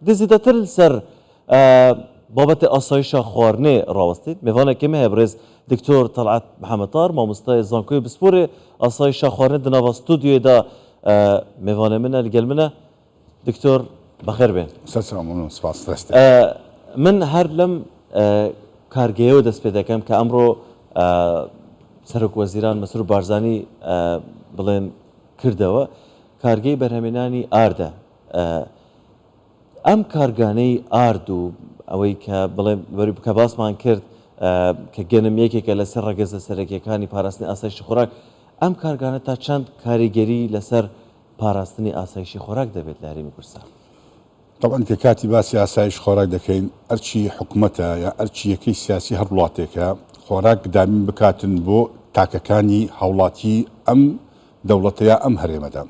گزیدەتر سەر بابەتێ ئاسایشە خوارنێ ڕاوەستین مێڤانە کێمە هەیە بڕێز دکتۆر تەڵعات محەمەتار مامۆستای زانکۆی بسپۆرێ ئاسایشە خوارنێ دناڤا ستودیۆێدا مێڤانە منە لەگەل منە دکتۆر بەخێر بێن سپاس دەست من هەر لەم کارگەیەوە دەست پێ دەکەم کە ئەمڕۆ سەرک وەزیران مەسرور بارزانانی بڵێن کردەوە کارگەی بەرهەمێنانی ئاردە ئەم کارگانەی ئارد و ئەوەی کە بڵێم کە باسمان کرد کە گەنم یەکێکە لەسەر ڕەگەزە سەرەکیەکانی پاراستنی ئاسایشی خۆراک ئەم کارگانە تا چەند کاریگەری لەسەر پاراستنی ئاسایشی خۆراک دەبێت لە هەرێمی کوردستان. تەبعەن کە کاتی باسی ئاسایش خۆراک دەکەین ئەرچی حکومەتە یا ئەرچی یەکەی سیاسی هەر وڵاتێکە خۆراک دابین بکاتن بۆ تاکەکانی هاوڵاتی ئەم دەوڵەتە یا ئەم هەرێمەدا.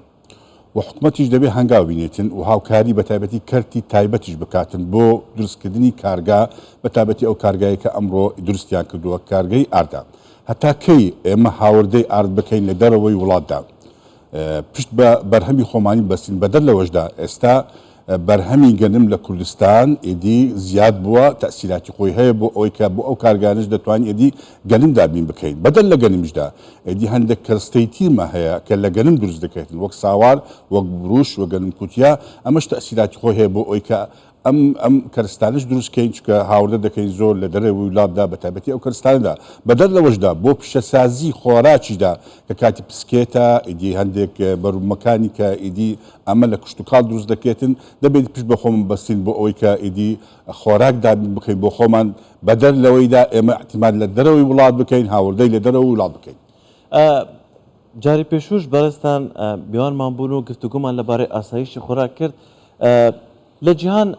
و حکومەتیش دەبێ هەنگاو بینێتن و هاوکاری بە تایبەتی کەرتی تایبەتیش بکاتن بۆ دروست کردنی کارگا بە تابەتی ئەو کارگایە کە ئەمڕۆ دروستیان کردووە کارگەی ئاردە هەتا کەی ئێمە هاوردەی ئارد بکەین لە دەرەوەی وڵاتدا پشت بە بەرهەمی خۆمانی بەستین بەدەر لەوەشدا ئێستا بەرهەمی گەنم لە کوردستان ئیدی زیاد بووە، تەئسیراتی خۆی هەیە بۆ ئەوەی کە بۆ ئەو کارگانەش دەتوانین ئیدی گەنم دابین بکەین. بەدەر لە گەنمیشدا ئیدی هەندێک کەرستەی تیرمان هەیە کە لە گەنم دروست دەکرێتن وەک ساوار، وەک بروش و گەنم کوتیا، ئەمەش تەئسیراتی خۆی هەیە بۆ ئەوەی کە ئەم ئەم کەرستانەش دروست کەین چونکە هاوردە دەکەین زۆر لە دەرەوەی ووڵاتدا بە تایبەتی ئەو کەرستانەدا. بەدەر لەوەشدا بۆ پیشەسازی خۆراکیشدا کە کاتی پسکێتە ئیدی هەندێک بەروبوومەکانی کە ئیدی ئەمە لە کشتوکاڵ دروست دەکرێتن، دەبێت پشت بە خۆمان ببەستین بۆ ئەوەی کە ئیدی خۆراک دابین بکەین بۆ خۆمان، بەدەر لەوەیدا ئێمە ئیعتیماد لە دەرەوەی وڵات بکەین، هاوردەی لە دەرەوەی وڵات بکەین. جاری پێشووش بەڕێزتان میوانمان بوون و گفتوگۆمان لەبارەی ئاسایشی خۆراک کرد، لە جیهان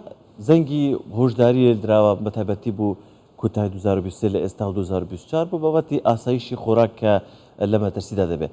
زەنگی هۆشداری لێ دراوە بە تایبەتی بۆ کۆتایی دوو هەزار و بیست و سێ لە ئێستا و دوو هەزار و بیست و چوار بۆ بابەتی ئاسایشی خۆراک کە لە مەترسیدا دەبێت.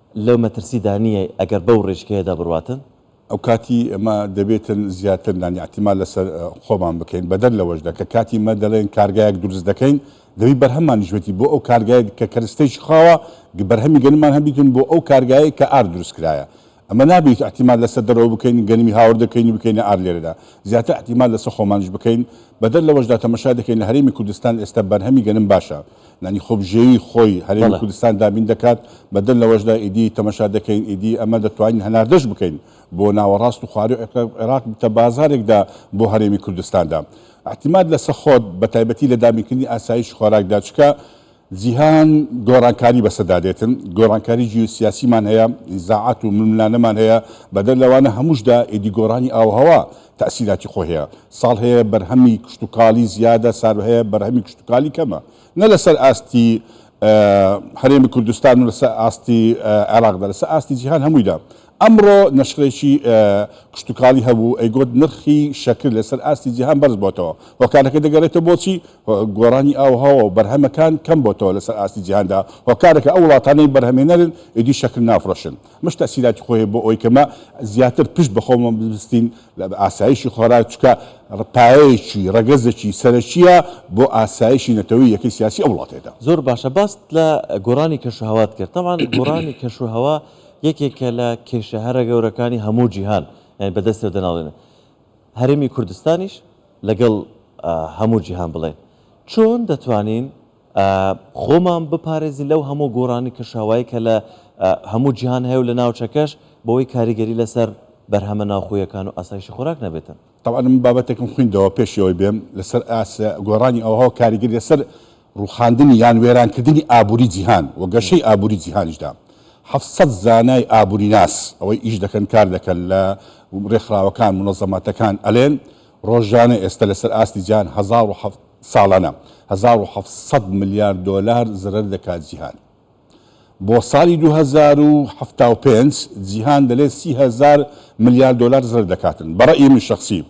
لەو مەترسیدا نییە ئەگەر بەو ڕێچکەیەدا بڕواتن. ئەوکاتی ئێمە دەبێتن زیاتر نانی ئیعتیماد لەسەر خۆمان بکەین، بەدەر لەوەشدا کە کاتی ئێمە دەڵێین کارگایەک دروست دەکەین، دەبی بەرهەمانیش بێتی بۆ ئەو کارگایەی کە کەرستەیەکی خاوە، بەرهەمی گەنممان هەبیتن بۆ ئەو کارگایەی کە ئار دروست کرایە. ئەمە نابیت ئیعتیماد لەسەر دەرەوە بکەین، گەنمی هاوردە بکەین و بکەینە ئار لێرەدا، زیاتر ئیعتیماد لەسەر خۆمانیش بکەین، بەدەر لەوەشدا تەمەشای دەکەین لە هەرێمی کوردستان ئێستا بەرهەمی گەنم باشە، یانی خۆبژێوی خۆی هەرێمی بەڵێ. کوردستان دابین دەکات، بەدەر لەوەشدا ئیدی تەمەشا دەکەین ئیدی ئەمە دەتوانین هەناردەش بکەین بۆ ناوەڕاست و خواروی عێقرق عێراق ببتە بازارێکدا بۆ هەرێمی کوردستاندا اعتماد لە سەخۆت بەتایبەتی لە دابینکردنی ئاسایش خۆراکدا چکە جیهان گۆڕانکاری بەسەدا دێتن گۆڕانکاری جیوسیاسیمان هەیە نیزاعات و ململانێمان هەیە بەدەر لەوانە هەمووشدا ئیدی گۆڕانی ئاووهەوا تاسیراتی خۆی هەیە ساڵ هەیە بەرهەمی کشتوکاڵی زیادە، سال هەیە بەرهەمی کشتوکاڵی کەمە، نە لەسەر ئاستی هەرێمی کوردستان و لەسەر ئاستی عێراقدا، لەسەر ئاستی جیهان هەموویدا. ئەمڕۆ نەشرێکی کشتوکاڵی هەبوو ئەیگوت نرخی شەکر لەسەر ئاستی جیهان بەرزبۆتەوە، هۆکارەکە دەگەرێتەوە بۆچی؟ گۆڕانی ئاووهەواو بەرهەمەکان کەمبۆتەوە لەسەر ئاستی جیهاندا، هۆکارەکە ئەو وڵاتانەی بەرهەمێنەرن ئیدی شەکر نافرۆشن. ئەمەش تەئسیراتی خۆی هەیە بۆ ئەوەی کە مە زیاتر پشت بە خۆمە ببستین لە ئاسایشی خۆراک چکە پایەیەکی ڕەگەزەکی سەرەکیە بۆ ئاسایشی نەتەوەی یەکەی سیاسی ئەو وڵاتەیدا. زۆر باشە باست لە گۆڕانی کەشوهەوات کرد تەبعەن گۆڕانی کەشوهەوا یەکێکە لە کێشە هەرە گەورەکانی هەموو جیهان یانی بەدەستەوە دەناڵێنن هەرێمی کوردستانیش لەگەڵ هەموو جیهان بڵێن چۆن دەتوانین خۆمان بپارێزین لەو هەموو گۆڕانی کەشاوایەی کە لە هەموو جیهان هەیە و لە ناوچەکەش بەوەی کاریگەری لەسەر بەرهەمە ناوخۆیەکان و ئاسایشی خۆراک نەبێتن. تەبعەن من بابەتێکم خویندەوە پێش ئەوەی بێم لەسەر ئاست گۆڕانی ئاوەهەوا کاریگەری لەسەر ڕوخاندنی یان وێرانکردنی ئابوری جیهان و گەشەی ئابوری جیهانیشدا حەفت سەد زانای ئابوریناس ئەوەی ئیش دەکەن کار دەکەن لە ڕێکخراوەکان مونەزەماتەکان ئەلێن ڕۆژانە ئێستا لەسەر ئاستی جیهان هەزار و حەفت ساڵانە هەزار و حەفت سەد ملیار دۆلار زەرەر دەکات جیهان. بۆ ساڵی دوو هەزار و حەفتا و پێنج جیهان دەلێت سی هەزار ملیار دۆلار زەرەر دەکاتن. بە رەئی من شەخسی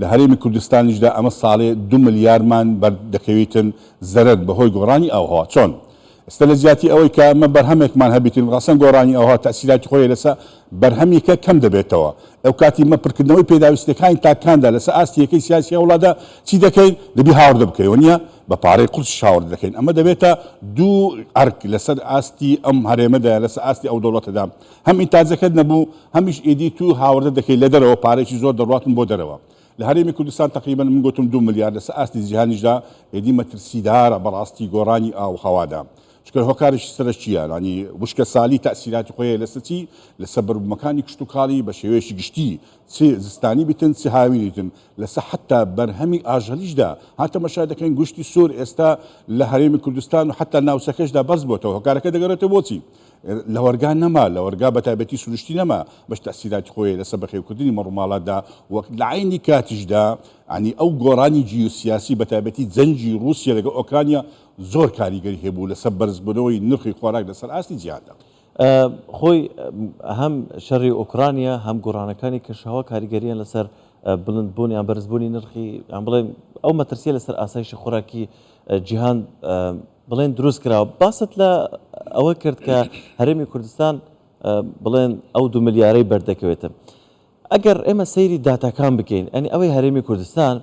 لە هەرێمی کوردستانیشدا ئەمە ساڵێ دو ملیارمان بەر دەکەویتن زەرەر بەهۆی گۆڕانی ئاووهەوا. چۆن؟ ئێستا لە جیاتی ئەوەی کە ئێمە بەرهەمێکمان هەبیت و ڕەسەن گۆڕانی ئەوها تەئسیراتی خۆی لەسە بەرهەمیکە کەم دەبێتەوە ئەوکاتی ئێمە پرکردنەوەی پێداویستیەکانی تاکاندا لەسە ئاستی یەکەی سیاسی ئەو وڵاتدا چی دەکەین دەبی هاوردە بکەی وەنیە بە پارەی قورسیش هاوردە دەکەین ئەمە دەبێتە دوو ئەرک لەسەر ئاستی ئەم هەرێمەدا لەسە ئاستی ئەو دەوڵەتەدا هەم ئینتاجەکەت نەبوو هەمیش ئیدی تو هاوردە دەکەی لە دەرەوە پارەیەکی زۆر دەڕواتن بۆ دەرەوە لە هەرێمی کوردستان تەقریبەن من گۆتم دوو ملیار لەسە ئاستی جیهانیشدا ئێدی مەترسیدارە بەڕاستی گۆڕانی ئاو هەوادا چکە هۆکارش سەرەکیە ڕانی وشکە سالی تاسیراتی خۆیە لەسە چی لەسە بەربوومەکانی کشتوکاڵی بە شێوەیەشی گشتی چ زستانی بتن چ هاوینیتن لەسە حتا بەرهەمی ئاژەلیشدا هاتە مەشا دەکەین گوشتی سوور ئێستا لە هەرێمی کوردستان و حتا ناوچەکەشدا بەرز بۆتەوە هۆکارەکە دەگەڕێتە بۆچی لەوەرگا نەما، لەوەرگا بەتایبەتی سروشتی نەما، بەش تەئسیراتی خۆی لەسە بەخێوکردنی مەڕوماڵاتدا و لەعەینی کاتیشدا یانی ئەو گۆڕانی جیوسیاسی بەتایبەتی جەنگی ڕوسیە لەگەڵ ئۆکرانیا زۆر کاریگەری هەبوو لەسە بەرزبونەوەی نرخی خۆراک لەسەر ئاستی جیهاندا. خۆی هەم شەڕی ئۆکرانیا هەم گۆڕانەکانی کەشوهەوا کاریگەریان لەسەر بلندبون یان بەرزبونی نرخی یان بڵێم ئەو مەترسیە لەسەر ئاسایشی خۆراکی جیهان بڵێن دروست کراوە باست لە ئەوە کرد کە هەرێمی کوردستان بڵێن ئەو دو ملیارەی بەردەکەوێتە ئەگەر ئێمە سەیری داتاکان بکەین ئەنی ئەوەی هەرێمی کوردستان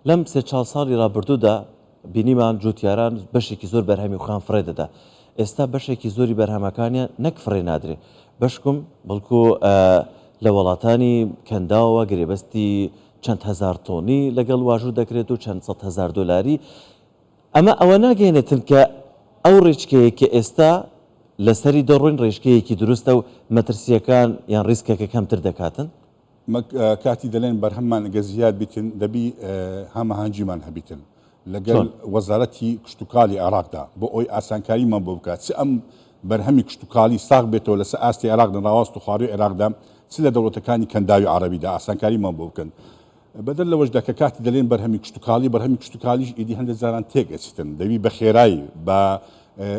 لەم سێ چاڵ ساڵی رابردوودا بینیمان جوتیاران بەشێکی زۆر بەرهەمی خۆیان فڕێ دەدا ئێستا بەشێکی زۆری بەرهەمەکانیان نەک فڕێ نادرێ بەشکم بەڵکو لە وڵاتانی کەنداوە گرێبەستی چەند هزار تۆنی لەگەڵ واژوو دەکرێت و چەند سە هزار دلاری ئەمە ئەوە ناگەیەنێتن کە ئەو ڕێچکەیەی کە ئێستا لەسەری دەڕۆین ڕێچکەیەکی دروستە و مەترسییەکان یان ڕیسکەکە کەمتر دەکاتن؟ مەک کاتی دەلێن بەرهەممان گەر زیاد بیتن دەبی هەمەهەنگیمان هەبیتن لەگەل چۆن؟ وەزارەتی کشتوکالی عێراقدا بۆ ئەوەی ئاسانکاریمان بۆ بکات چ ئەم بەرهەمی کشتوکالی ساغ بێتەوە لەسەر ئاستی عێراق لە ناواست و خواروی عێراقدا چ لە دەوڵەتەکانی کەنداوی عەرەبیدا ئاسانکاریمان بۆ بکەن بەدەر لەوەشدا کە کاتی دەلێن بەرهەمی کشتوکاڵی، بەرهەمی کشتوکاڵیش ئیدی هەندێ جاران تێکئەچتن، دەبی بەخێرای بە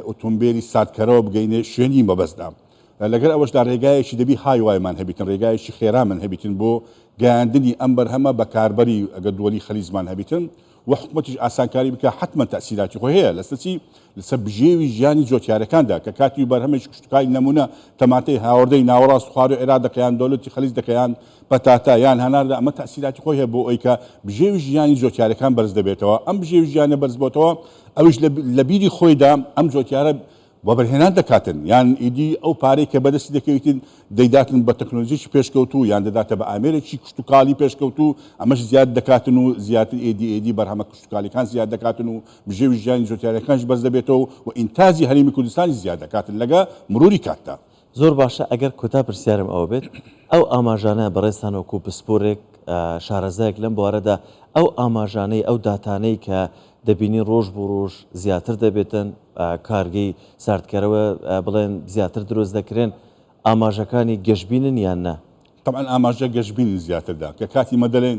ئۆتۆمبێلی ساردکەرەوە بگەینێ شوێنی مەبەستدا. لەگەل ئەوەشدا رێگایەکی دەبی هایوایمان هەبیتن، رێگایەکی خێرامان هەبیتن بۆ گەیاندنی ئەم بەرهەمە بە کاربەری ئەگەر دوەلی خلیزمان هەبیتن وە حکومەتیش ئاسانکاری بکا حەتمەن تەئسیراتی خۆی هەیە لەسەر چی لەسەر بژێوی ژیانی جۆتیارەکاندا کە کاتیو بەرهەمێکی کشتوکالی نەمونە تەماتەی هاوردەی ناوەڕاست خوارو عێراق دەکە یان دۆلتی خەلیج دەکە یان پەتاتە یان هەناردە ئەمە تەئسیراتی خۆی هەیە بۆ ئەوی کە بژێوی ژیانی جۆتیارەکان بەرز دەبێتەوە ئەم بژێوی ژیانە بەرز بۆتەوە ئەویش لە بیری خۆیدا ئەم جۆتیارە وەبەرهێنان دەکاتن یان ئیدی ئەو پارەی کە بەدەستی دەکەویتن دەیداتن بە تەکنۆلۆجیەکی پێشکەوتوو یان دەداتە بە ئامێرێکی کشتوکاڵی پێشکەوتوو ئەمەش زیاد دەکاتن و زیاتر ئێدی ئێدی بەرهەمە کشتوکاڵیەکان زیاد دەکاتن و بژێوی ژیانی زۆتیارەکانیش بەرز دەبێتەوە و ئینتاجی هەرێمی کوردستانیش زیاد دەکاتن لەگە مروری کاتدا زۆر باشە ئەگەر کۆتا پرسیارم ئەوە بێت ئەو ئاماژانە بەڕێزتان وەکو پسپۆرێک شارەزایەک لەم بوارەدا ئەو ئاماژانەی ئەو داتانەی کە دەبینین ڕۆژ بۆ ڕۆژ زیاتر دەبێتن کارگەی ساردکەرەوە بڵێن زیاتر دروست دەکرێن ئاماژەکانی گەشبینن یان نا؟ تەبعەن ئاماژە گەشبینن زیاتر دا کە کاتی مە دەلێن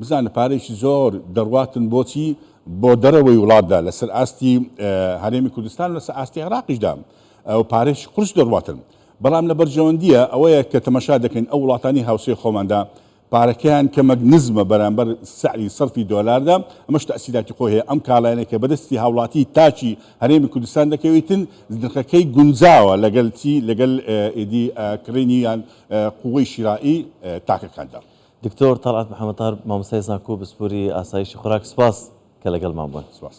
بزانە پارەیەکی زۆر دەڕواتن بۆچی؟ بۆ دەرەوەی وڵاتدا لەسەر ئاستی هەرێمی کوردستان و لەسەر ئاستی عێراقیشدا و پارەیەکی قورس دەڕواتن، بەڵام لە بەرژەوەندییە ئەوەیە کە تەمەشا دەکەین ئەو وڵاتانەی هاوسێ خۆماندا پارەکەیان کەمەک نزمە بەرامبەر سعری سەرفی دۆلاردا، ئەمەش تەئسیراتی خۆی هەیە، ئەم کاڵایانەی کە بەدەستی هاوڵاتی تاکی هەرێمی کوردستان دەکەویتن نرخەکەی گونجاوە لەگەل چی؟ لەگەل ئیدی کڕینی یان قووەی شیرائی تاکەکاندا. دکتۆر تەڵعەت محەمەد تاهر مامۆستای زانکۆ و پسپۆری ئاسایشی خوراک سوپاس کە لەگەڵمان بوون. سپاس.